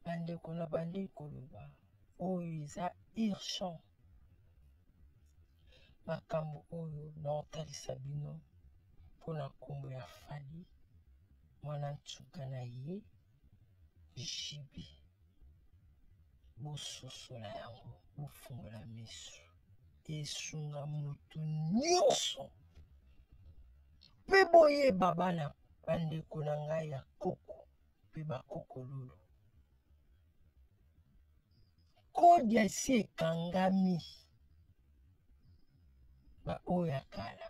bandeko na bandi koloba oyo eza urgent makambo oyo naotalisa bino mpo na nkombo ya fali mwana nsuka na ye jibi bososola yango bofungola miso esunga moto nyonso mpe boyeba bana bandeko na ngai ya koko mpe bakokololo kodi esi ekangami baoyo ya kala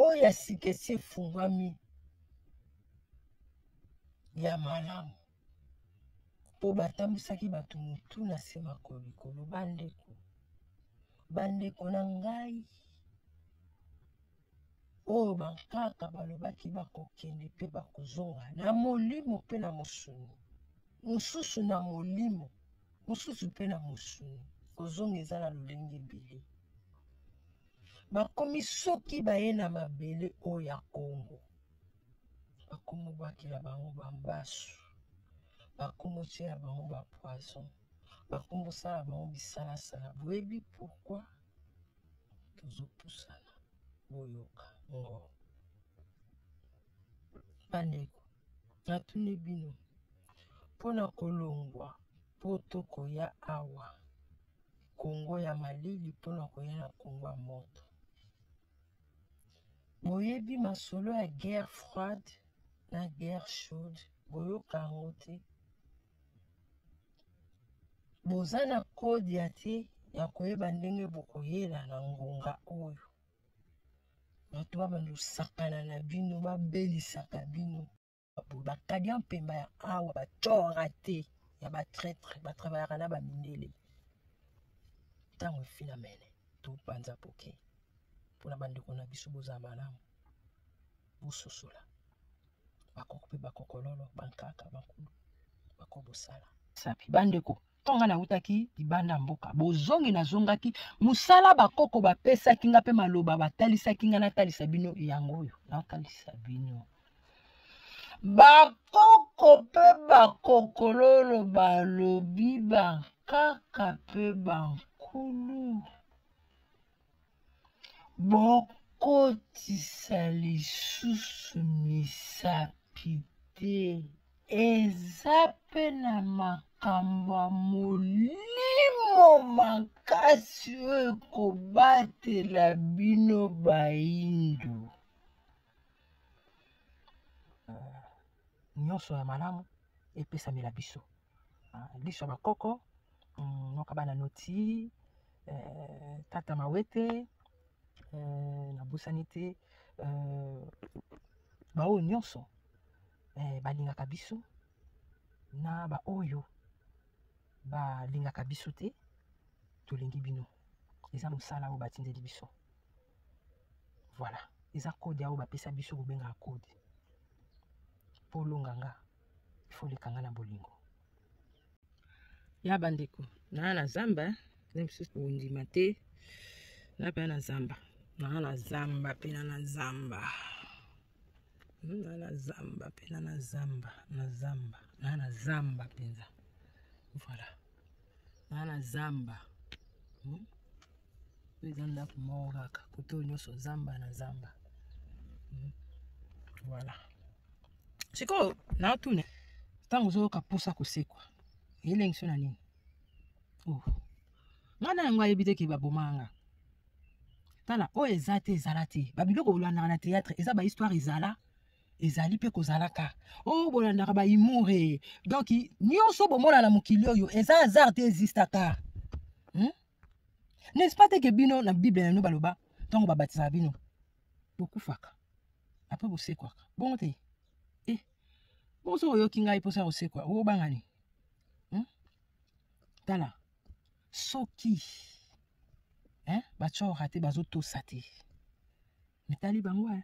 oyo ya sika esi efungwami ya malamu mpo batambwisaki bato motu na se makolo likolo bandeko bandeko na ngai oyo bankaka balobaki bakokende mpe bakozonga na molimo mpe na mosuni mosusu na molimo mosusu mpe na mosuni kozonga eza na lolenge ebele bakomi soki baye na mabele oyo ya kongo bakomobwakela bango bambasu bakomotyela bango bapoison bakomosala bango bisalasala boyebi pourkui tozopusana boyoka ngo bandeko natuni bino mpo na kolongwa mpo tokoya awa kongo ya malili mpo na koya na kongo ya moto boyebi masolo ya guerre froide na guerre chaude boyoka yango te boza na kode ya te ya koyeba ndenge bokoyela na ngonga oyo bato babanda kosakana na bino babelisaka bino bakadia mpemba ya awa batyora te ya batraitre batravaillaka na bamindele ntango efina mene topanza poke mpona bandeko na biso boza malamu bososola bakoko mpe bakokololo bankaka bankulu bakobosala sapi bandeko ntonga nautaki libanda mboka bozongi nazongaki mosala bakoko bapesaki nga mpe maloba batalisaki nga natalisa bino yango oyo natalisa bino bakoko mpe bakokololo balobi bankaka mpe bankulu bokotisa lisusu misapi te eza mpe na makambo ya molimo makasi oyo ekobatela bino baindo nyonso ya malamu epesamela biso ah, liso ya bakoko mm, noka bana noti eh, tata mawete eh, nabosani te eh, baoyo nyonso eh, balingaka biso na baoyo balingaka biso te tolingi bino eza mosala oyo batindeli biso voilà eza kode oyo bapesa biso kobengaka kode mpo olonganga faut oleka nga na bolingo ya bandeko naa na zamba na mosusu kondima te na pena na zamba naa na zamba pena na zamba hmm, naa na zamba pena na zamba na zamba naa na zamba mpenza voilà na na zamba hmm? eza ndako moko kaka kote oyo nyonso zamba na zamba hmm? voilà sikoyo naotuna ntango ozoyoka mposa kosekwa elengisi na nini oh. nga na yango ayebi te ke babomaka nga tala oyo eza te ezala te babiloko olandaka na théâtre eza bahistware ezala ezali mpe kozalaka o oh, bolandaka baimure donk nyonso bomona na mokili oyo eza hasard te ezistaka hmm? n'est-ce pas teke bino na bible na bino baloba ntango babatisaka bino bokufaka apres bosekwaka bongo te e bongo soki oyoki ngai mposa ya kosekwa obangani hmm? tala soki eh, batyora te bazotosa te mitali bango eh.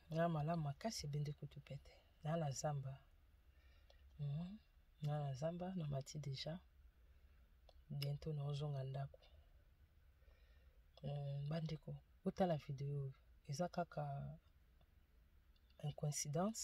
na malamu makasi ebende kutu pete na na zamba mm. na na zamba na mati deja biento naozonga ndako mm, bandeko otala video oyo eza kaka incoïncidence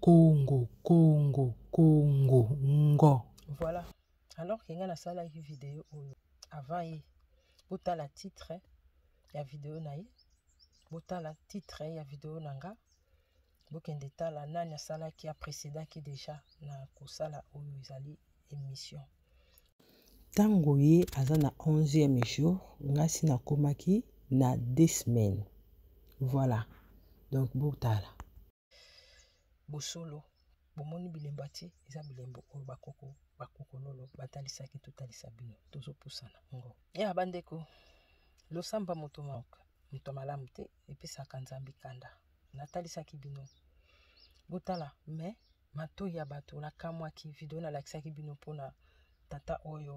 Congo, Congo, Congo, ngo. Voilà. Alors que nga nasalaki video oyo avant ye. Botala titre ya video na ye. Botala titre ya video na nga. Bokende tala nani asalaki a précédaki déjà na kosala oyo ezali émission. Tango ye aza na 11e jour, nga si nakomaki na 2 semaines. Voilà. Donc botala. bosolo bomoni bilembo atie eza bilembo oyo bakoko bakokololo batalisaki totalisa bino tozopusana ngo ya bandeko losamba moto moka moto malamu te epesaka nzambe kanda natalisaki bino botala me matoi ya bato nakamwaki video nalakisaki bino mpona tata oyo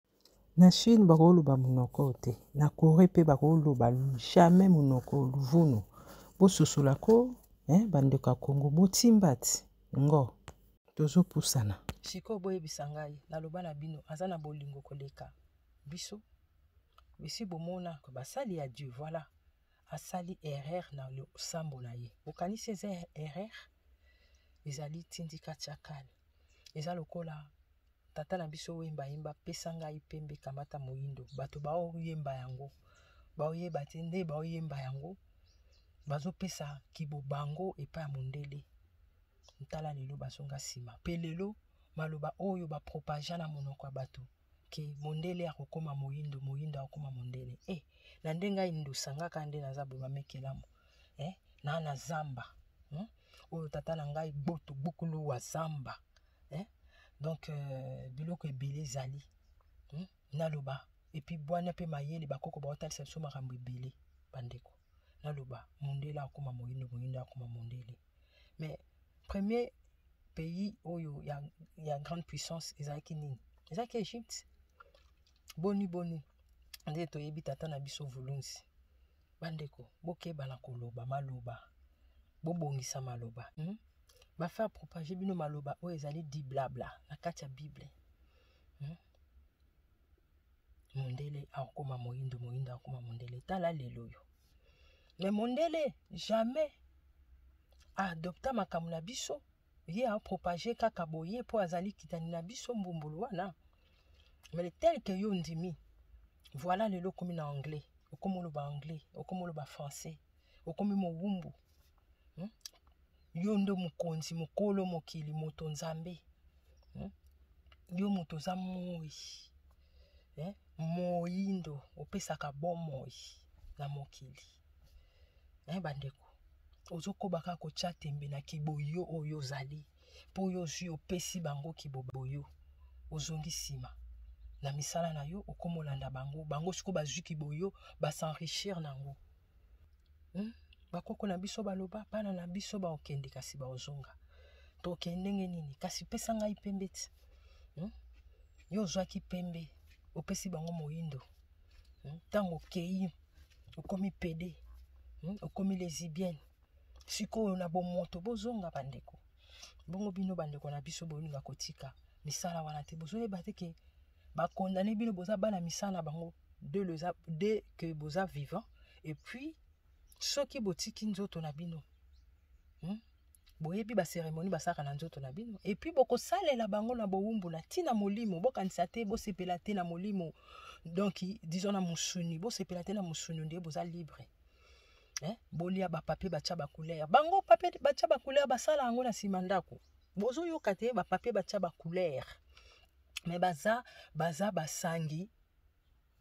Na Chine bakoloba monoko oyo te, na Coree mpe bakoloba jamais monoko oyo luvunu. Bososola ko eh, bandeko ya Congo botimbati ngo tozopusana. Sikoyo boyebisa ngai, naloba na bino, aza na bolingo koleka biso? Bisi bomona basali ya Dieu, voilà asali erreur na losambo na ye. Bokanisi eza erreur? Ezali tindika chakal, eza lokola Tata na biso oyemba yemba pesa ngai pembe kamata moyindo bato baoyemba yango baoyeba te nde baoyemba yango bazopesa kibobango epai ya mondele ntala lelo bazonga nsima mpe lelo maloba oyo bapropagea na monoko ya bato ke mondele akokoma moyindo moyindo akokoma mondele e eh, na nde ngai ndosangaka nde naza boye bamekelamu e eh, na na zamba hmm? oyo tata na ngai gboto gbukulu wa zamba hein? donc euh, biloko ebele ezali hmm? naloba epuis bwana mpe mayele bakoko baotalisa biso makambo ebele bandeko naloba mondele akoma moyindo moyindo akoma mondele mais premier pays oyo ya, ya grande puissance ezalaki nini ezalaki egypte boni boni nde toyebi tata na biso vulunzi Bandeko, bokeba na koloba maloba. Bobongisa maloba. Hmm? Ba faire propager bino maloba oyo ezali di blabla na kati ya Bible. Hmm? Mondele akokoma moyindo, moyindo akokoma mondele. Tala lelo yo. Mais mondele jamais adopta makambo na biso ye a propage kaka boye po azali kitani na biso mbumbulu wana mais tel que yo ndimi voilà lelo okomi na anglais okomi oloba anglais okomi oloba français okomi mowumbu hmm? yo nde mokonzi mokolo mokili moto nzambe hmm? yo moto oza moi eh? moyindo opesaka bomoi na mokili eh, bandeko ozokoba kaka kotya tembe na kiboyo oyo ozali mpo oyo ozwi opesi bango kiboboyo ozongi nsima na misala na yo okomolanda bango bango sikoyo bazwi kiboyo basenrichir na yango hmm? bakoko na biso baloba bana na biso baokende kasi baozonga tokende ndenge nini kasi pesa ngai pembe ti hmm? yo ozwaki pembe opesi bango moyindo hmm? ntango okei okomi pede hmm? okomi lesibienne sikoyo na bomoto bozonga bandeko bongo bino bandeko na biso bolinga kotika misala wana te bozoyeba te ke bakondane bino boza bana misala bango de, leza, de ke boza vivant epuis soki botiki nzoto na bino hmm? boyebi baseremoni basalaka na nzoto na bino epuis bokosalela bango na bowumbu na ntina molimo bokanisa te bosepela te na molimo donk dison na mosuni bosepela te na mosuni nde boza libre eh? bolia bapapie batya bacouleur bango papie batya bacouleur basala yango na nsima ndako bozoyoka te bapapie batya bacouleur me baza baza basangi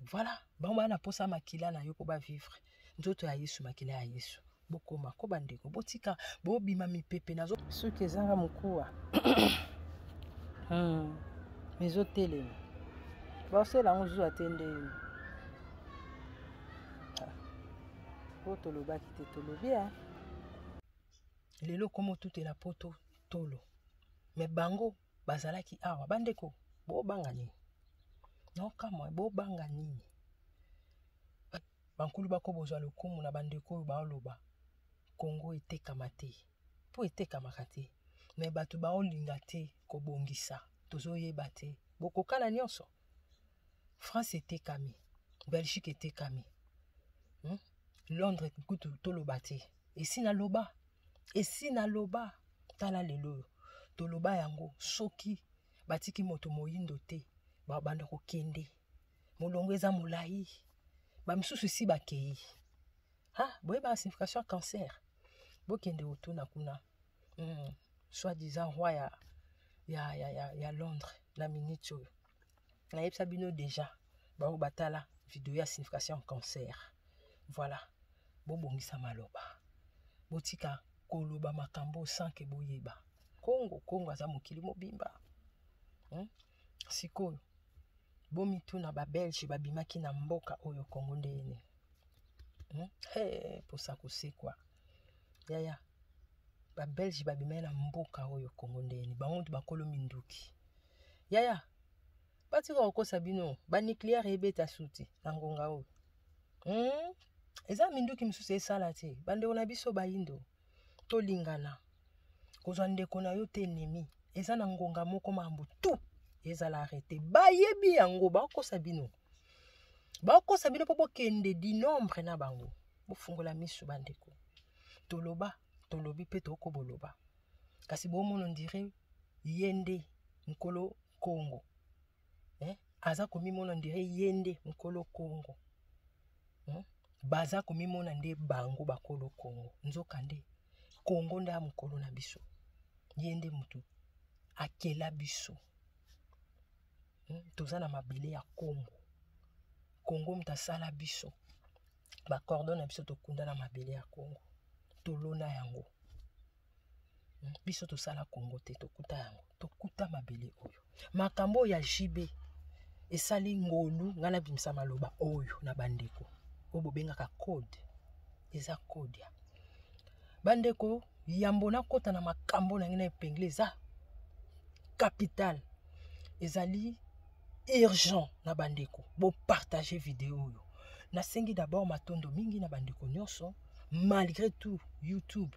voilà bango baa na mposa makila na yo mpo bavivre nzoto ya yesu makila ya yesu bokoma ko bandeko botika bobima mipepe nazo soki ezanga mokuwa hmm. mizotelema basela yango zuwa te ndeyini ah. po tolobaki te tolobi a lelo komo tutela poto tolo me bango bazalaki awa bandeko bobanga nini naokamwa bobanga nini bankulu bako bozwa lokumu na bandeko oyo baoloba kongo etekama te mpo etekamaka te me bato baolinga te kobongisa tozoyeba te bokokana nyonso france etekami belgique etekami hmm? londres kutu toloba te esi naloba esi naloba tala lelo oyo toloba yango soki batiki moto moyindo te babanda kokende molongo eza molai bamisusu esi bakei ha ah, boyeba na signification ya cancer bokende otuna kuna mm, soit disant roi ya, ya, ya, ya, ya londres na minute oyo nayebisa bino deja baoyo batala video ya signification cancer voilà bobongisa maloba botika koloba makambo sans ke boyeba kongo kongo aza mokili mobimba hmm? sikoyo bomituna babelge babimaki na mboka oyo kongo nde ene hmm? hey, posa kosekwa yaya babelge babimaki na mboka oyo kongo nde ene bango nde bakolo minduki yaya batika kokosa bino banucléaire ebeta suti na ngonga oyo hmm? eza minduki mosusu esala te bandeko na biso bayindo tolingana kozwa ndeko na yo te enemi eza na ngonga moko mambo tu ezala arrete bayebi yango bakokosa bino bakokosa bino mpo bokende dinombre na bango bofungola misu bandeko toloba tolobi mpe tokoboloba kasi bomono ndire ye nde nkolo kongo eh? aza komimona ndire ye nde nkolo kongo hmm? baza komimona nde bango bakolo kongo nzoka nde kongo nde mokolo na biso ye nde motu akela biso hmm? toza na mabele ya kongo kongo moto asala biso bakordon na biso tokunda na mabele ya kongo tolona yango biso tosala kongo te tokuta yango tokuta mabele oyo makambo oyo ya jb esali ngolu ngai nabimisa maloba oyo na bandeko oyo bobengaka code eza code ya bandeko yambo nakota na makambo na ngai na epengle eza capital ezali urgent na bandeko bopartage video oyo nasengi d'abord matondo mingi na bandeko nyonso malgré tout youtube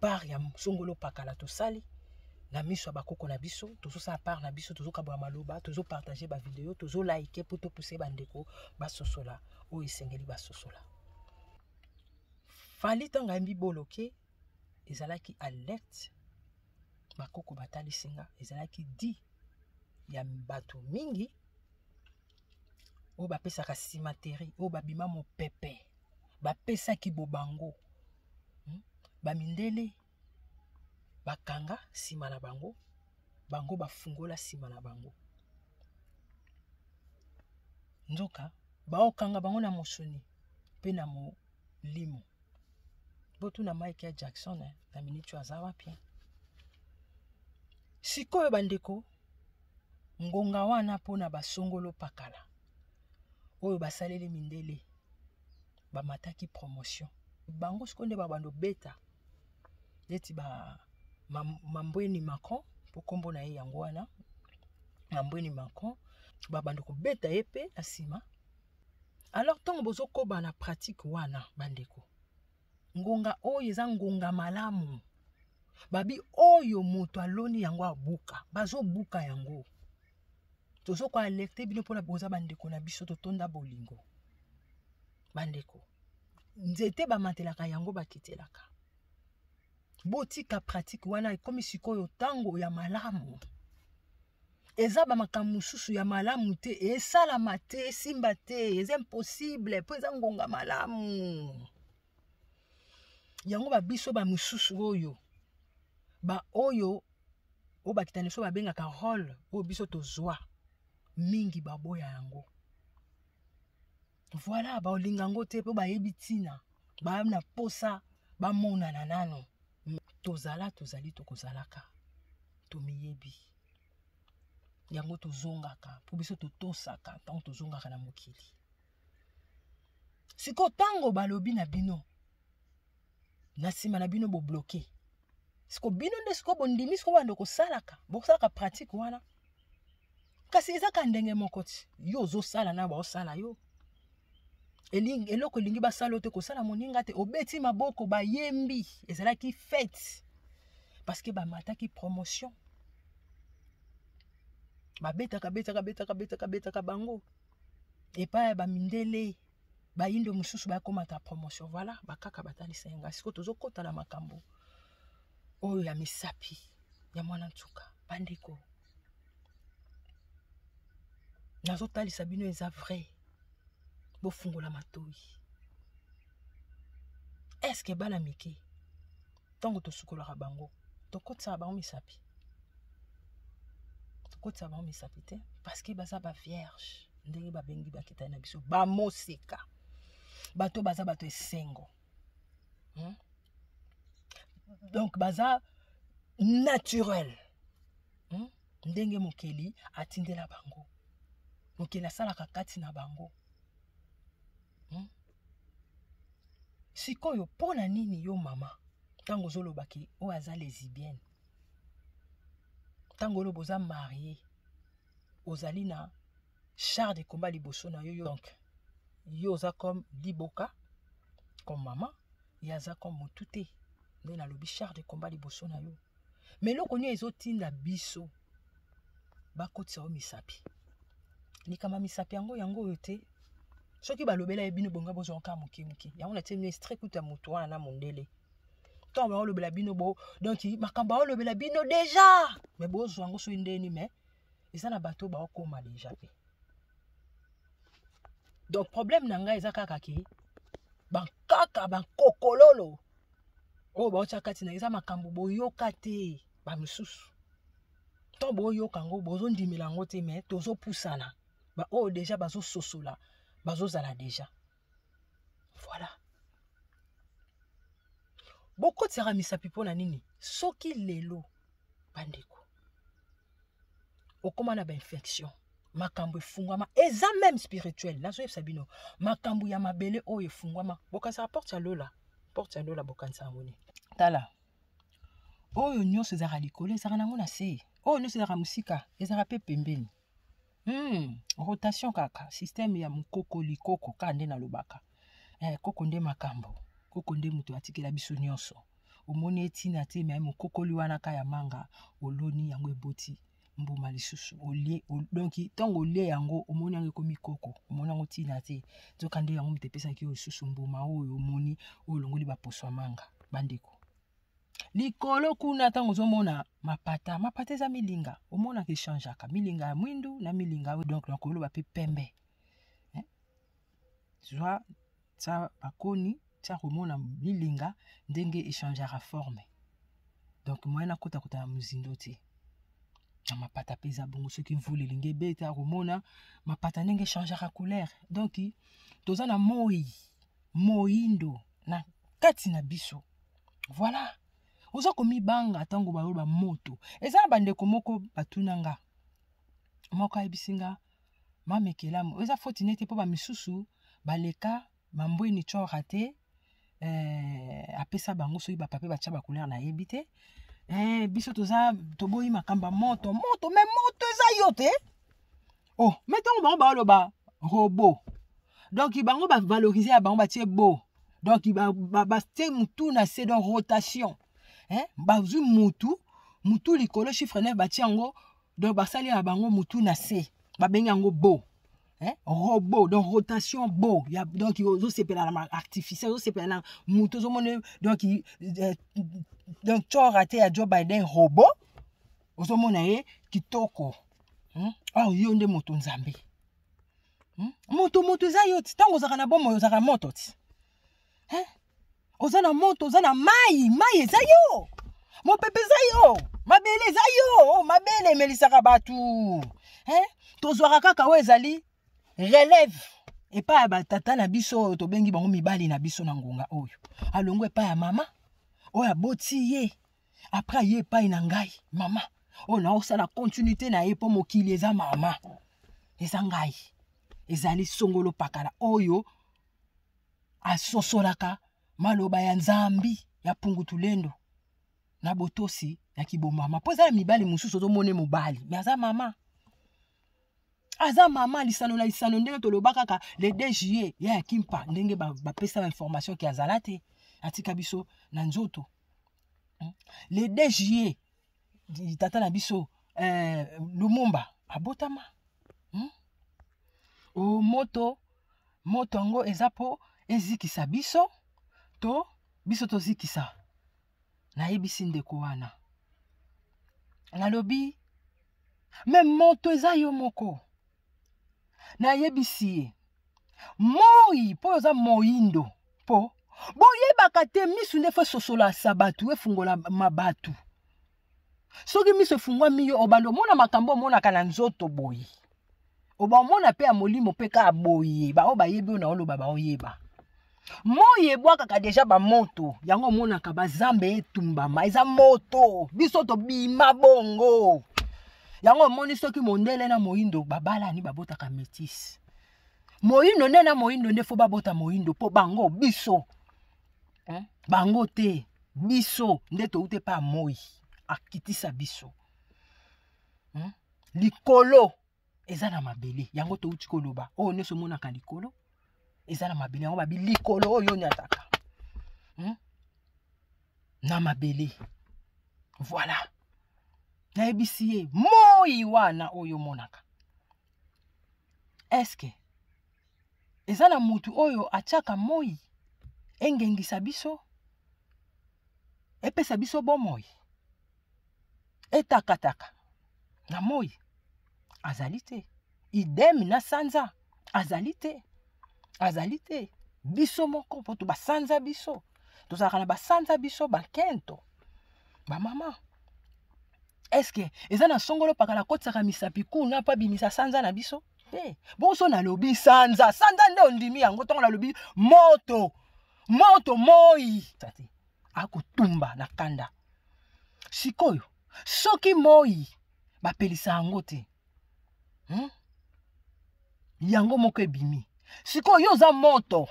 part ya songolo pakala tosali na miso ya bakoko na biso tozosala part na biso tozokabola maloba tozopartage bavideo tozolaike mpo topuse bandeko basosola oyo esengeli basosola fali ntango ayembi boloke ezalaki alert bakoko batalisi nga ezalaki di ya bato mingi oyo bapesaka simateri oyo babima mopepe bapesaki bobango hmm? bamindele bakanga nsima na bango bango bafungola nsima na bango nzoka baokanga bango na mosuni mpe na molimo botuna mike ya jackson eh, na miniti oyo aza wapi sikoyo bandeko ngonga wana mpo na basongolo pakala oyo basaleli mindele bamataki promotion bango siko nde babanda obeta neti ba mambweni macron mpo nkombo na ye yango wana mambweni macron babanda kobeta ye mpe na nsima alors ntango bozokoba na pratique wana bandeko ngonga oyo eza ngonga malamu babi oyo moto aloni yango abuka bazobuka yango tozo koalerte bino mpona boza bandeko na biso totonda bolingo bandeko nzete bamatelaka yango bakitelaka botika pratike wana ekomi sikoyo ntango ya malamu eza bamakambo mosusu ya malamu te esalama te esimba te eza impossible mpo eza ngonga malamu yango babiso bamosusu oyo baoyo oyo bakita na biso babengaka role oyo biso tozwa mingi baboya yango Voilà, ba olinga ngo te po bayebi tina. Ba na posa ba monana nano. Tozala tozali tokozalaka. Tomiyebi. Yango tozongaka, po biso totosaka ntango tozongaka na mokili. Siko tango balobi na bino na nsima na bino bobloke siko bino nde siko bondimi siko bando kosalaka bosalaka pratique wana kasi eza ka ndenge moko ti yo ozosala na baosala yo elingi eloko elingi basala yo te kosala moninga te obeti maboko bayembi ezalaki fete parce que bamataki promotion babetaka betaka betaka betaka betaka bango epai ya bamindele bayindo mosusu bakomata promotion voilà bakaka batalisa yanga sikoyo tozokota na makambo oyo ya misapi ya mwana nsuka bandeko nazotalisa bino eza vrai bofungola matoi eske bana mike ntango tosukolaka bango tokotisaka bango misapi tokotisaka bango misapi te parceke baza bavierge ndenge babengi bakitani na biso bamoseka bato baza bato esengo hmm? donc baza naturel hmm? ndenge mokeli atindela bango mokeli asalaka kati na bango hmm? sikoyo mpo na nini yo mama ntango ozolobaki oyo aza lesibienne ntango oloba oza marie ozali na char de combat liboso na yo donc yo oza comme liboka comme mama ye aza comme motu te nde nalobi char de combat liboso na yo ma eloko nio ezotinda biso bakotisa yo misapi likama misapi yango yango oyo te soki balobela ye bino bonga bozwa nkaa moke moke yango natie bino estre kuta motu wana na mondele ntango baolobela bino bo donk makambo aolobela bino deja me bozwa yango soki ndeni me eza na bato oyo baokoma deja mpe donc problème na ngai eza kaka ke bankaka bankokololo oyo baotya kati na eza makambo boyoka te bamosusu ntango boyoka yango bozondimela yango te mai tozopusana baoyo deja bazososola bazozala deja voilà bokotisaka misapi mpo na nini soki lelo bandeko okóma na bainfection makambo efungwama eza meme spirituel nazoyebisa bino makambo ya mabele oyo efungwama bokanisaka porte ya lola porte ya lola bokanisa yango nini tala oyo nyonso ezalaka likolo ezalaka nango na se oyo nyonso ezalaka mosika ezalaka mpe pembeni Hmm, rotation kaka système ya mokoko likoko kaka nde nalobaka eh, koko nde makambo koko nde moto atikela biso nyonso omoni etina te me mokokoli wana ka ya manga oloni yango eboti mbuma lisusu olie donki ntango olie yango omoni yango ekomi koko omoni yango ntina te nzoka nde yango moto epesaki yo lisusu mbuma oyo omoni oyo olongoli baposo ya manga bandeko likolo kuna ntango ozomona mapata mapata eza milinga omonaka echangeaka milinga ya mwindu na milinga oyo donc nakoloba mpe pembe eh? zwa tya bakoni tya komona milinga ndenge echangeaka forme donc moyen nakotakota na mozindo te na mapata mpe eza bongo soki mvula elingi ebeta komona mapata ndenge echangeaka couleur donc toza na moi moyindo na kati na biso voilà oza komibanga ntango baloba moto eza na bandeko moko batuna nga moko ayebisi nga mamekelamu eza foti nete mpo bamisusu baleka bambweni cora te eh, apesa bango soki bapape batya bacouleur nayebi te eh, biso toza toboyi makambo ya moto moto me moto eza yo te oh mais ntango bango baoloba robo donc bango bavalorise ya bango batie bo donc batie motu na se donc rotation eh? bazwi motu motu likolo chiffre 9 batie yango donc basali ya bango motu na se babengi yango bo eh? robot donc rotation bo ya, donc ozosepela na artificiel ozosepela na motu ozomona donc euh, donc cora te ya joe biden robot ozomona ye kitoko hmm? awa yo nde moto nzambe hmm? moto moto eza yo ti ntango ozalaka na bomoi ozalaka moto ti eh? oza na moto oza na mai mai eza yo mopepe eza yo mabele eza yo oh, mabele emelisaka bato eh? tozwaka kaka oyo ezali relève epai ya batata na biso oyo tobengi bango mibali na biso na ngonga oyo alongwa epai ya mama oyo aboti ye après aye epai na ngai mama oyo naosala continuité na ye mpo mokili eza mama eza ngai ezali songolo pakala oyo asosolaka maloba ya nzambi ya pungutulendo na botosi ya kibomama mpo eza na mibali mosusu ozomone mobali me aza mama aza mama lisano na lisano ndenge toloba kaka le 2 juillet ya ya kimpa ndenge bapesa ba bainformation ke azala te atika biso na nzoto le 2 juillet tata na biso eh, lumumba abotama hmm? o moto moto yango eza mpo ezikisa biso to biso tozikisa nayebisi ndeko wana nalobi me moto eza yo moko nayebisi ye moi mpo oza moindo mpo boyebaka te misu nde fo esosolasa bato efungola mabatu soki miso efungwami yo obanda omona makambo omonaka na nzoto boye obaomona mpe ya molimo mpe kaka boye baoyo bayebi oyo na oloba baoyeba moi ebwakaka deja bamoto yango omonaka bazambe etumbama eza moto biso tobima bongo yango omoni soki mondele na moindo babalani babotaka metise moindo nde na moindo nde fo babota moindo mpo bango biso eh, bango te biso nde toute mpe amoi akitisa biso hmm? likolo eza na mabele yango touti koloba oyo nyonso omonaka likolo eza na mabele yango babi likolo oyo onyataka hmm? na mabele voilà nayebisi ye moi wana oyo omonaka eske eza na motu oyo atyaka moi engengisa biso epesa biso bomoi etakataka na moi azali te idem na sanza azali te azali te biso moko mpo to basanza biso tozalaka na basanza biso bakento bamama eske eza na songolo pakala akotisaka misapi kuna mpo abimisa sanza na biso te bonso nalobi sanza sanza nde ondimi yango ntango nalobi moto moto moi akotumba na kanda sikoyo soki moi bapelisa yango te hmm? yango moko ebimi sikoyo yo oza moto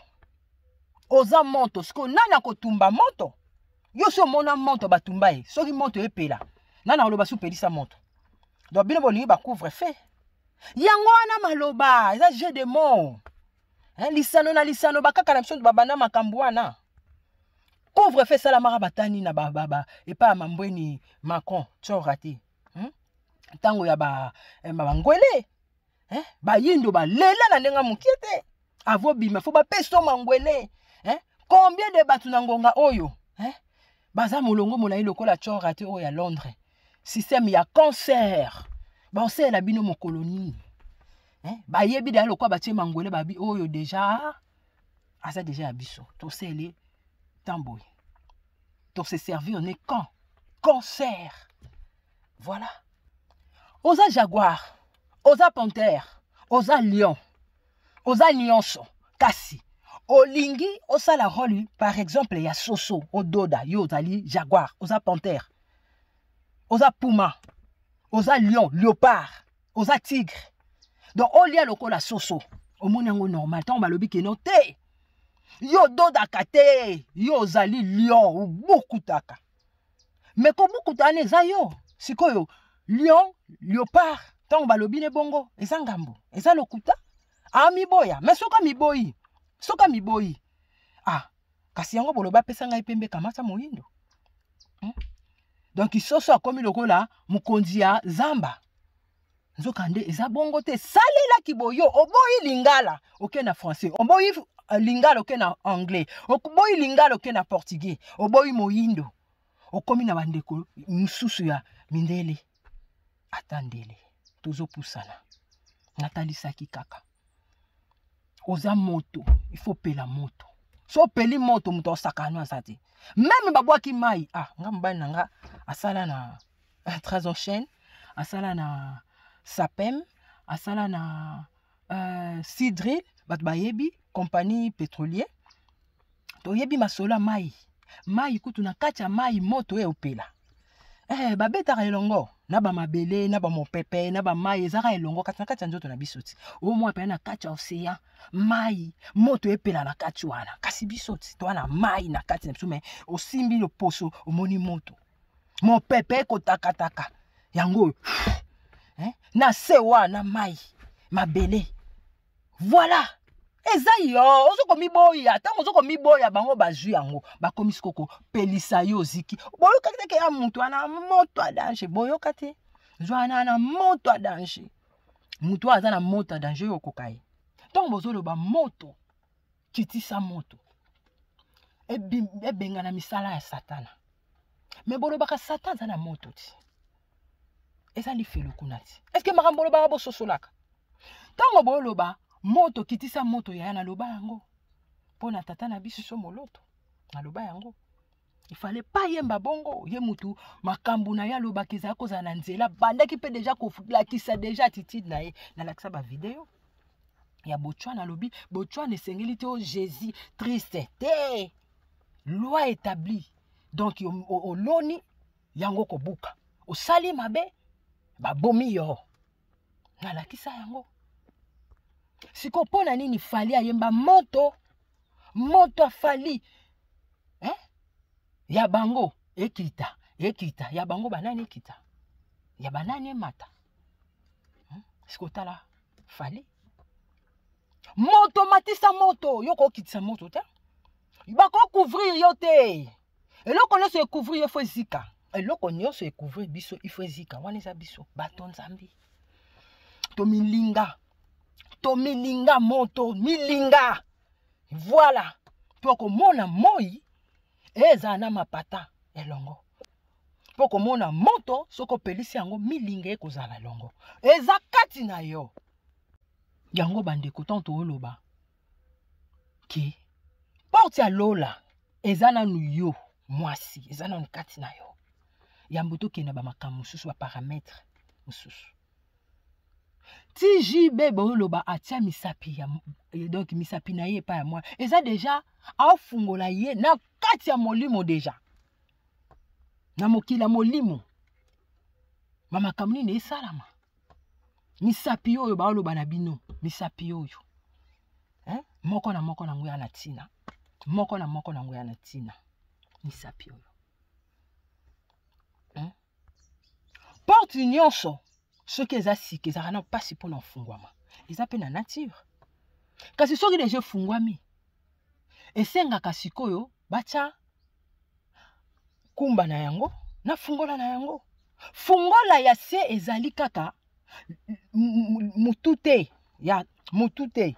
oza moto sikoyo nani akotumba moto yo si omona moto batumba ye soki moto epela nani akoloba si opelisa moto donc bino bolingi bacouvre fe yango wana maloba eza jeu de mot hein, lisano na lisano bakaka na biso babanda makambo wana pauvre fe esalamaka batani na bababa epai ya mambweni macron tsora te hmm? ntango ya eh, bangwele ba eh? bayindo balela na ndenge moke te avobima fo bapesa mangwele eh? combien de bato na ngonga oyo eh? baza molongo molai lokola tsora te oyo ya londres système ya concert baosalela bino mokolo nini eh? bayebi deja lokola batie mangwele babi oyo deja aza deja ya biso tosele ntan boye tose servir ne camp concert voilà oza jaguar oza panthère oza lion oza nyonso kasi olingi osala role par exemple ya soso ododa yo ozali jaguar oza panthère oza puma oza lion leopard oza tigre donc olia lokola soso omoni yango normal ntango balobi keno te yo ododaka te yo ozali lion obukutaka me kobukuta wana eza yo sikoyo lion leopard ntango balobi ne bongo eza ngambo eza lokuta amiboya me soki amiboyi soki amiboyi ah kasi yango boloba apesa ngai pembe kamata moyindo hmm? donc soso akomi lokola mokonzi ya zamba nzokande eza bongo te salelaki boyo oboyi lingala oke na français oboyi euh, lingala oke na anglais oboyi lingala oke na portugais oboyi moyindo okomi na bandeko mosusu ya mindele ata ndele tozopusana natalisaki kaka oza moto ifo opela moto so opeli moto moto osakano aza te meme babwaki mai ah nga mobali na nga asala na eh, trasoncene asala na sapem asala na uh, eh, sidril bato bayebi compagnie pétrolier toyebi masolo ya mai mai kutu na kati ya mai moto eopela eh, babetaka elongo na bamabele na bamopepe na bamai ezaka elongo kati na kati ya nzoto na biso ti omwa mpe na kati ya osean mai moto epela na kati wana kasi biso ti toa na mai na kati na biso me osimbi loposo omoni moto mopepe ekotakataka yango oyo eh? na se wana mai mabele voilà eza yo ozo komiboya ntango ozo komiboya bango bazwi yango bakomisi kokopelisa yo oziki boyokaki teke ya moto wana moto ya danger boyoka te zwana wana moto ya danger moto oyo aza na moto ya danger oyo okoka ye ntango bozoloba moto kitisa moto ebengana misala ya satana me bolobaka satan aza na moto ti eza lifelo kuna ti eske makambo olobaka bososolaka ntango boloba moto kitisa moto yaya naloba yango mpo na tata na biso moloto naloba yango il fallait pas yemba bongo ye mutu makambo na ye alobaka ezali kozala na nzela bandaki mpe deja kolakisa deja attitude na ye nalakisa bavideo ya botswana alobi botswana esengeli te o jésus triste te loi établie donc oloni yango kobuka osali mabe babomi yo nalakisa yango sikoyo mpo na nini fali ayemba moto moto afali eh? ya bango ekita ekita ya bango banani ekita ya banani emata hmm? sikotala fali moto matisa moto yo kokitisa moto te bakokouvrir yo te eloko nyonso ekouvrir yo fo ezika eloko nyonso ekouvrir biso ifo ezika wana eza biso bato nzambe tomilinga tomilinga moto milinga voilà mpo komona moi ezala na mapata elongo mpo komona moto soki opelisi yango milinga ekozala elongo eza kati na yo yango bandeko ntango tooloba ke porte ya lola eza nanu yo mwasi eza nanu kati na yo yambo tokenda bamakambo mosusu baparametre mosusu tjb booloba atia misapi ya donc misapi na ye epai ya mwana eza deja aofungola ye na kati ya molimo deja na mokili ya molimo bamakambo nini esalama misapi oyo baoloba na bino misapi oyo eh? moko na moko nango ya na ntina moko na moko nango ya na ntina misapi oyo eh? porte nyonso soki eza sika ezalaka na mpasi mpo na ofungwama eza mpe na nature kasi soki deja efungwami esengaka sikoyo batya kumba na yango na fungola na yango fungola ya se ezali kaka motu te ya motu te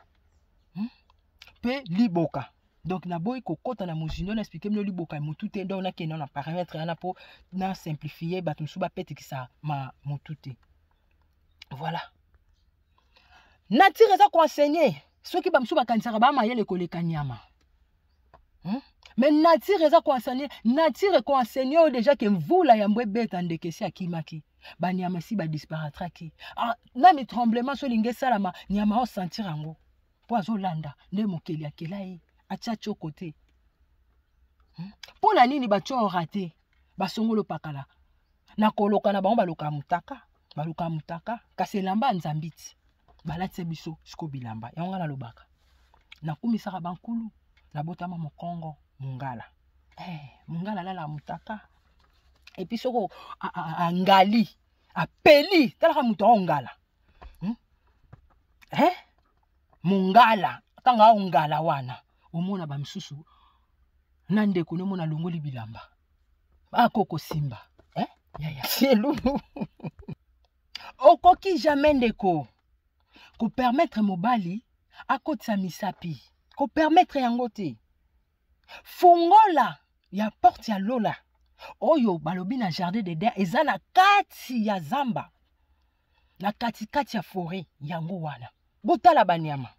mpe hmm? liboka donc naboyi kokɔta na mozindo na explike bino liboka ya motu te donc nakenda na parametre wana mpo na simplifie bato mosusu bapetikisa ma motu te voilà nature eza koenseigne soki bamosusu bakanisaka baa mayele koleka nyama hmm? mais nature eza koenseigne nature ekoenseigne oyo deja ke mvula yambo ebeta ndeke esi akimaki banyama esi badisparatraki ah, nani tremblement so olingi esalama nyama osentir yango mpo azolanda nde mokeli akela ye atya coko te mpo hmm? na nini batyo orate basongolo pakala na koloka na bango baloka mutaka baloka mutaka kasi elamba ya nzambi ti balatisa biso siko bilamba yango ngai nalobaka nakumisaka bankulu nabotama mokongo mongala hey, eh, mongala alala mutaka epi soko angali apeli talaka moto ao ngala hmm? eh? mongala ntango ao ngala wana omona bamisusu na ndeko no mona longoli bilamba akoko simba eh? yaya elulu okoki jamais ndeko kopermettre mobali akotisa misapi kopermettre yango te fungola ya porte ya lola oyo balobi na jardin de der eza na kati ya zamba na katikati ya foret yango wana botala banyama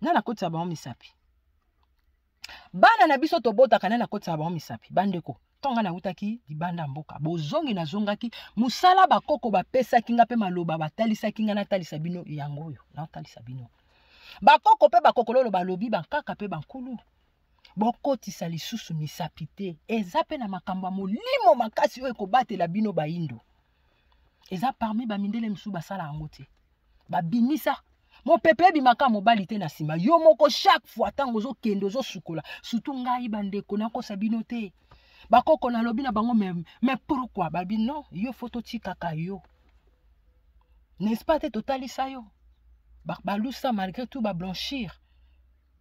na nakotisa bango misapi bana na biso tobotaka na nakotisa bango misapi bandeko ntonga nautaki libanda mboka bozongi nazongaki mosala bakoko bapesaki nga mpe maloba batalisaki nga natalisa bino yango oyo natalisa bino bakoko mpe bakokololo balobi bankaka mpe bankulu bokotisa lisusu misapi te eza mpe na makambo ya molimo makasi oyo ekobatela bino baindo eza parmi bamindele mosusu basala yango te babimisa mopepe ebimaka mobali te na nsima yo moko chaque fois ntango ozokende ozosukola surtout ngai bandeko nakosa bino te bakoko nalobi na bango mais, mais pourquoi babi non yo fo totikaka yo n'est-ce pas te totalisa yo balusa ba malgré tout bablanchir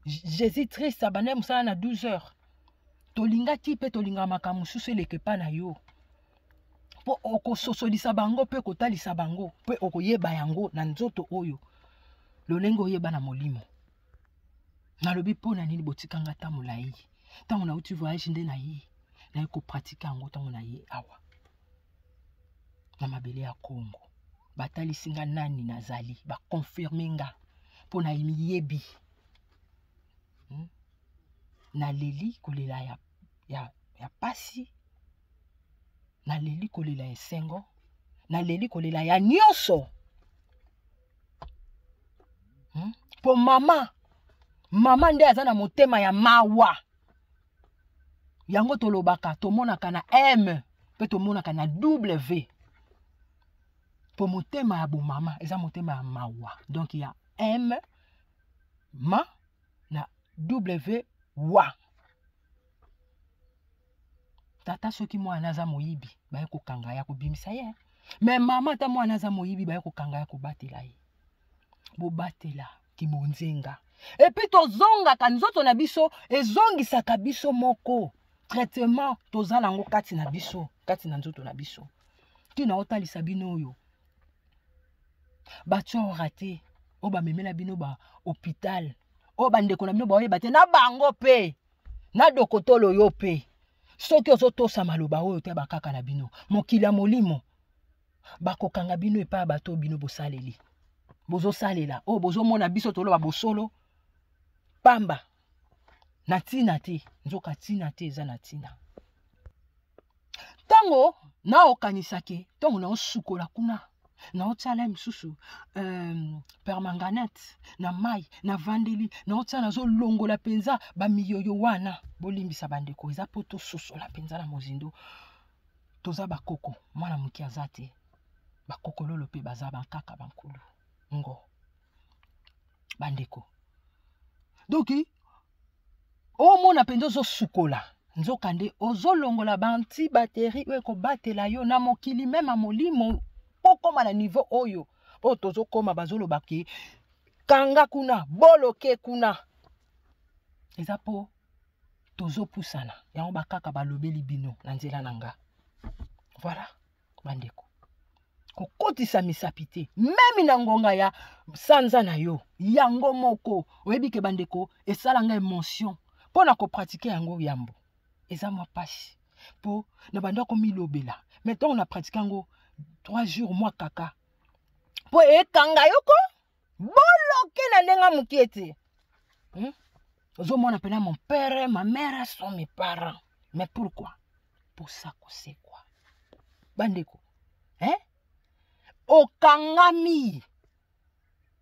jésus triste abandaki mosala na 12 heures tolingaki mpe tolingaka makambo mosusu eleka epai na yo mpo okososolisa bango mpe kotalisa bango mpe okoyeba yango na nzoto oyo lolenge oyeba na molimo nalobi mpo na nini botika nga ntango na ye ntango nauti voyage nde na ye naye kopratike yango ntango na ye awa na mabele ya congo batalisi nga nani nazali bakonfirme nga mpo na miyebi hmm? naleli kolela ya ya, ya pasi naleli kolela ya esengo naleli kolela ya nyonso hmm? mpo hmm? mama mama nde aza na motema ya mawa yango tolobaka tomonaka na m mpe tomonaka na w mpo motema ya bomama eza motema ya mawa donk ya m ma na wa tata soki mwana aza moyibi baye kokanga ya kobimisa ye me mama ata mwana aza moyibi baye kokanga ya kobatela ye bobatela kibonzenga epuis tozongaka nzoto na biso ezongisaka biso moko traitement toza nango kati na biso kati na nzoto na biso ntina otalisa bino oyo batyora te oyo bamemela bino ba hopital oyo bandeko na bino baoyeba te na bango mpe na dokotolo yo mpe soki ozotosa maloba oyo te bakaka na bino mokili ya molimo bakokanga bino epai ya bato oyo bino bosaleli bozosalela oyo bozomona biso toloba bosolo pamba na ntina te nzoka ntina te eza na ntina ntango naokanisa ke ntango naosukola kuna naotyala ye mosusu um, permanganate na mai navandeli naotyala nazolongola mpenza bamiyoyo wana bolimbisa bandeko eza mpo tososola mpenza na mozindo toza bakoko mwana moke aza te bakokololo mpe baza bankaka bankulu ngo bandeko donki omona mpenza ozosukola nzokande ozolongola banti bateri oyo ekobatela yo na mokili mema molimo okoma na nivo oyo oyo tozokoma bazoloba ke kanga kuna boloke kuna eza mpo tozopusana yango bakaka balobeli bino na nzela na nga voilà bandeko kokotisa misapi te meme na ngonga ya sanza na yo yango moko oyebi ke bandeko esala nga emotion mpo na kopratike yango yambo eza mwa mpasi mpo na banda komilobela me ntango na pratike yango 3 jours mwa kaka mpo ekanga yoko boloke na ndenge moke te hmm? ozomona mpena mon père ma mère sont mes parents mais pourquoi posa kosekwa bandeko eh? okangami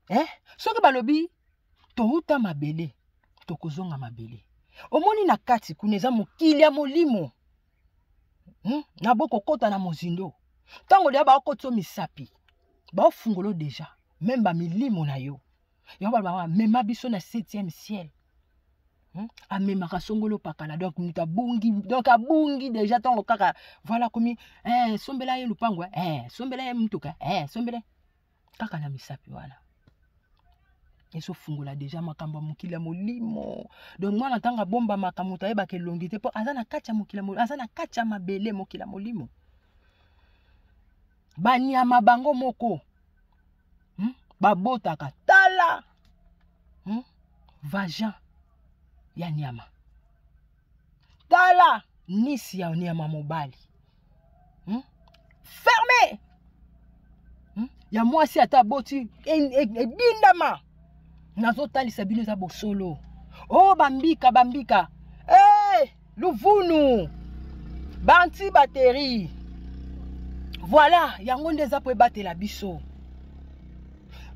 eh? soki balobi touta mabele tokozonga mabele omoni na kati kuna eza mokili ya molimo hmm? na bokokota na mozindo ntango deya baokoti yo misapi baofungolo deja meme bamilimo na yo yango baloba bamema biso na septième ciel Hmm? amemaka songolo pakala donc moto abungi donc abungi déjà ntango kaka voilà komi eh, sombela ye lupango eh, sombela ye motuka eh, sombela kaka na misapi wana ezofungola deja makambo ya mokili ya molimo donc mwana ntango abomba makambo moto ayebaka elongi te mpo aza na kati ya mokili aza na kati ya mabele mokili ya molimo banyama bango moko hmm? babotaka tala hmm? vagin ya nyama tala nisi ya nyama mobali hmm? ferme hmm? ya mwasi ata aboti edindama e, e nazotalisa bino eza bosolo o oh, bambika bambika hey, eh, luvunu banti bateri voilà yango nde eza mpo ebatela biso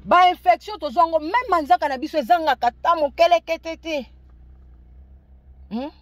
bainfection tozwa yango meme manzaka na biso ezangaka ta mokelekete te hmm?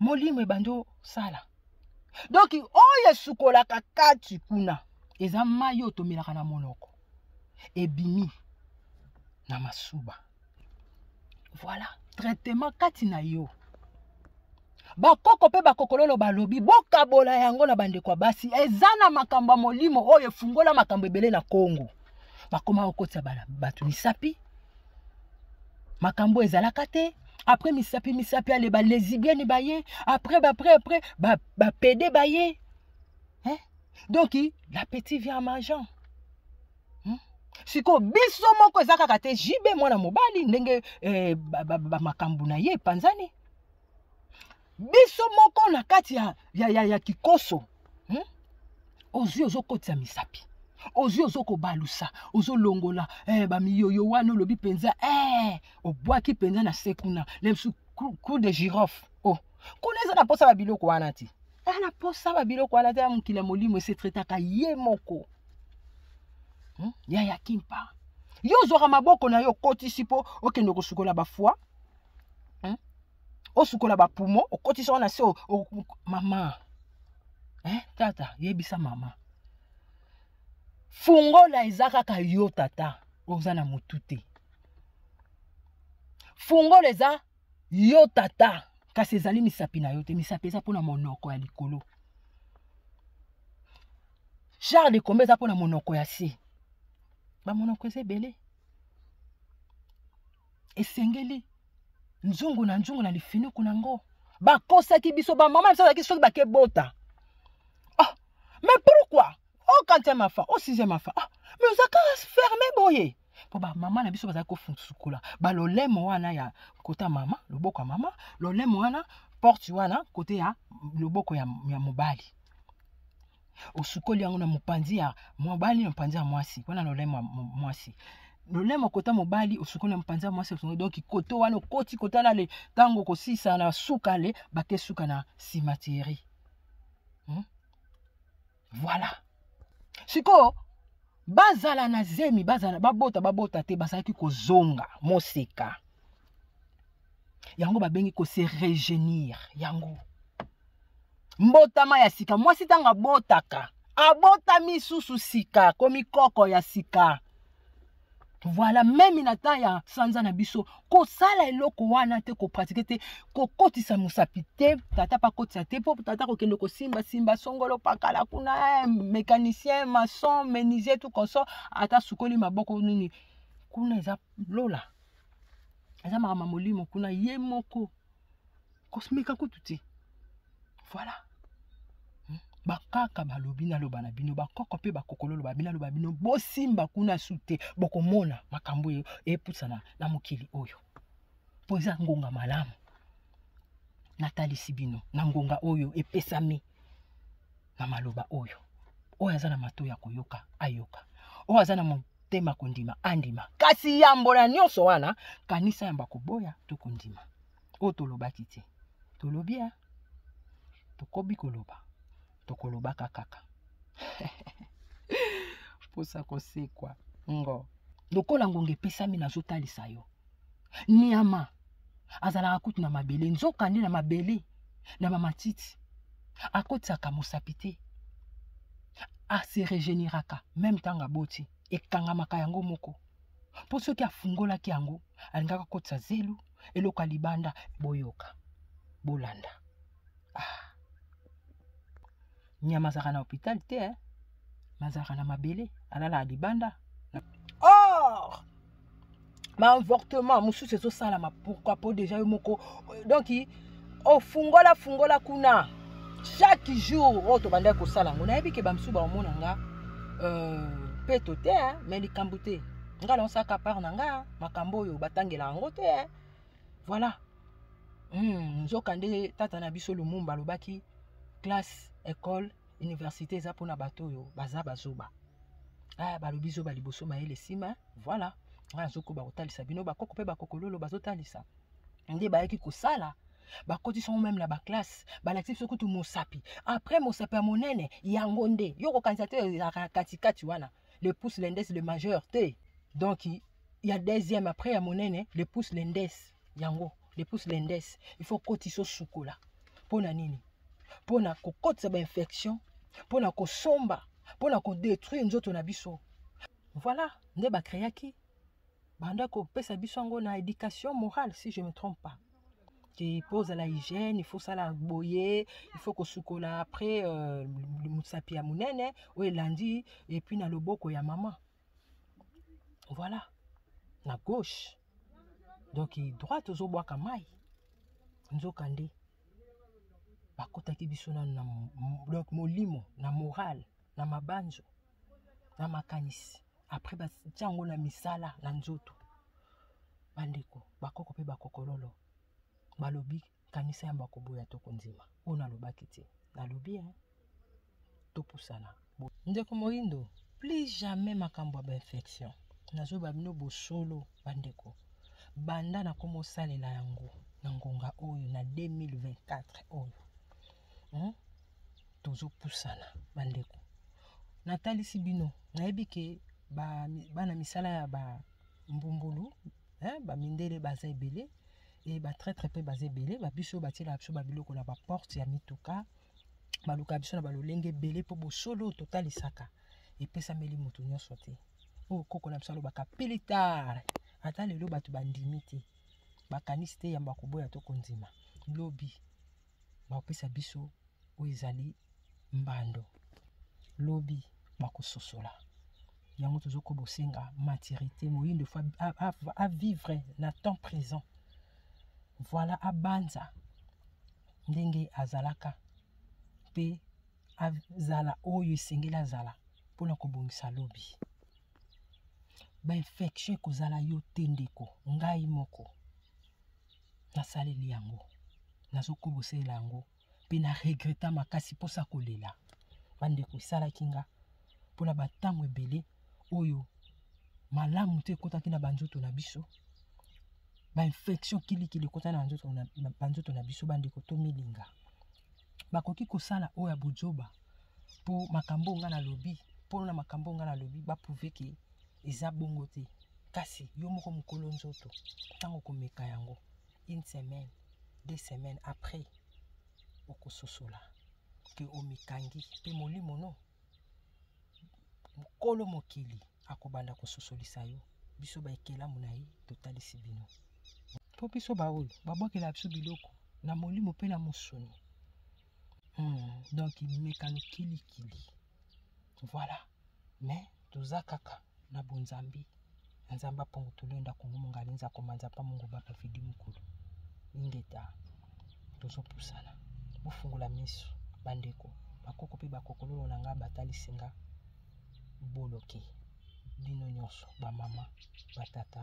molimo ebandi osala donk oyo esukolaka kati kuna eza mai oyo tomelaka na monoko ebimi na masuba voilà traitement kati na yo bakoko mpe bakokololo balobi bokabola yango na bandeko ya basi eza na makambo ya molimo oyo efungola makambo ebele na kongo bakoma kokotisa bato misapi makambo ezalaka te après misapi misapi ale balezibieni baye après bapre après bapede ba baye hein? donc la petit vient majan hmm? sikoyo biso moko eza kaka te jibe mwana mobali ndenge eh, bamakambo ba, ba, na ye epanzani biso moko na kati ya, ya, ya, ya kikoso hmm? ozwi ozokotisa misapi ozwi ozokobalusa ozolongola eh, bamiyoyo wana olobi mpenza eh, obwaki mpenza na se kuna na bisu coup de girofle oh. kuna eza na mposa babiloko wana ti eza na mposa babiloko wana te ya mokili ya molimo esetretaka ye moko hmm? ya ya kimpa yo ozwaka maboko na yo okotisi mpo okende kosukola bafwa hmm? osukola bapumo okotisa wana se mama eh, tata yebisa mama fungola eza kaka yo tata oza na motu te fungola eza yo tata kasi ezali misapi na yo te misapi eza mpo na monoko ya likolo genre de kombe eza mpo na monoko ya se bamonoko eza ebele esengeli nzungu na nzungu na lifinuku na yango bakosaki biso bamama biso azalaki soki bakebota ah, mais pourquoi o oh, kantième afa o oh, sixième afa ah, mais oza kaka ferme boye mpo bamama na biso bazali kosukola balolemo wana ya kota mama loboko ya mama lolemo wana porte wana kote ya loboko ya, ya mobali osukoli yango na mopanzi ya mobali na mopanzi ya mwasi wana lolemo ya mwasi lolemo kota mobali osukoli na mopanzi ya mwasi osukoli donki koto wana okoti kota na le ntango okosisa na suka le bake suka na simateri hmm? voilà sikoyo bazala na zemi bazala babota babota te bazalaki kozonga moseka yango babengi kose regenir yango mbotama ya sika mwasi ntango abotaka abotami susu sika komi koko ya sika voilà meme na temps ya sanza na biso kosala eloko wana te kopratike te kokotisa mosapi te tata mpe akotisa te mpo tata kokende kosimbasimba songolo pakala kuna eh, mécanicien maçon menisier tout conso ata sukoli maboko nini kuna eza lola eza makambo ya molimo kuna ye moko kosmeka kutu te voilà hmm? bakaka balobi naloba na bino bakoko mpe bakokolo loba bino aloba bino bosimba kuna su te bokomona makambo oyo epusana na mokili oyo mpo eza ngonga malamu natalisi bino na ngonga oyo epesami na maloba oyo oyo aza na mato ya koyoka ayoka oyo aza na motema kondima andima kasi yambo na nyonso wana kanisa yambo akoboya to kondima oyo tolobaki te tolobi ya tokobi koloba tokolobaka kaka mposa kosekwa ngo lokola ngonga epesami nazotalisa yo nyama azalaka kutu na mabele nzoka nde na mabele na bamatiti akotisaka mosapi te ase regeneraka meme ntango aboti ekangamaka yango moko mpo soki afungolaki yango alingaka kotisa zelu eloko ya libanda boyoka bolanda ah. nyama azalaka na hopital te eh? mazalaka na mabele alalaka libanda or baavortement mosusu ezosalama pourkui mpo deja yo moko donc ofungola fungola kuna chaque jour oyo tobandaki kosala yango nayebi ke bamosusu baomona nga euh, peto te mais likambo te nga naosaka part na nga makambo oyo batangela yango te voilà hmm, nzoka nde tata na biso lumumba alobaki classe école université eza mpona bato oyo baza bazoba ah, balobi zoba liboso mayele nsima voilà nga nazokoba kotalisa bino bakoko mpe bakokololo bazotalisa nde bayaki kosala bakotisa yango meme na baklasse balakisi biso kutu mosapi après mosapi ya monene yango nde yo kokanisa te ezalaka na katikati wana le pouce lendes le majeur te donc ya deuxième après ya monene le pouce lendes yango le pouce lendes il faut kotisa osukola mpo na nini mpo na kokotisa bainfection mpo na kosomba mpo na kodetruire nzoto na biso voilà nde bakreaki banda kopesa biso yango na éducation morale si je me trompe pas te mpo ozala hygiène ifo osala boye ifo kosukola après euh, mosapi ya monene oyo elandi epuis na loboko ya mama voilà na gauche donc droite ozobwaka mai nzokande bakotaki biso nano na donc molimo na morale na mabanzo na makanisi apres batya yango na misala na nzoto bandeko bakoko mpe bakokololo balobi kanisa yamba koboya to kondima oyo nalobaki te nalobi e topusana ndeko moindo plus jamais makambo ya bainfection nazoyeba bino bosolo bandeko banda nakoma osalela yango na ngonga oyo na 2024 oyo hmm? tozopusana bandeko natalisi bino nayebi ke bana misala ya bambumbulu bamindele baza ebele e batraitre mpe baza ebele babiso batielaka biso babiloko na baporte ya mituka balukaka biso na balolenge ebele mpo bosolo totalisaka epesameli moto nyonso te oyo oh, koko na biso alobaka pilitar ata lelo bato bandimi te bakanisi te yambo akoboya to kondima lobi bakopesa biso oyo ezali mbando lobi bakososola yango tozokoba bosenga maturité moyindo fo avivre na temps présent voilà abanza ndenge azalaka mpe azala oyo esengeli azala mpo na kobongisa lobi bainfection ekozala yo te ndeko ngai moko nasaleli yango nazokobosela yango mpe na regreta makasi mposa kolela bandeko esalaki nga mpona bantango ebele oyo malamu te ekotaki na banzoto na biso bainfection kilikili ekotaki na banzoto na biso bandeko tomilinga bakoki kosala oyo ya bojoba mpo makambo oyo ngai nalobi mpo na makambo oyo ngai nalobi baprouve ke eza bongo te kasi yo moko mokolo nzoto ntango okomeka yango une semaine deux semaines après okososola ke omikangi mpe molimo no mokolo mokili akobanda kososolisa yo biso baekelamu na ye totalisi bino mpo biso baoyo babwakela biso biloko na molimo mpe na mosuni hmm, donc mekano kilikili voilà mais toza kaka na bonzambi na nzambe apongo tulenda kongo mongali nza komanza pa mongo bapa fidi mokolo ingeta tozopusana bofungola miso bandeko bakoko mpe bakokololo na ngai batalisi nga boloki bino nyonso bamama batata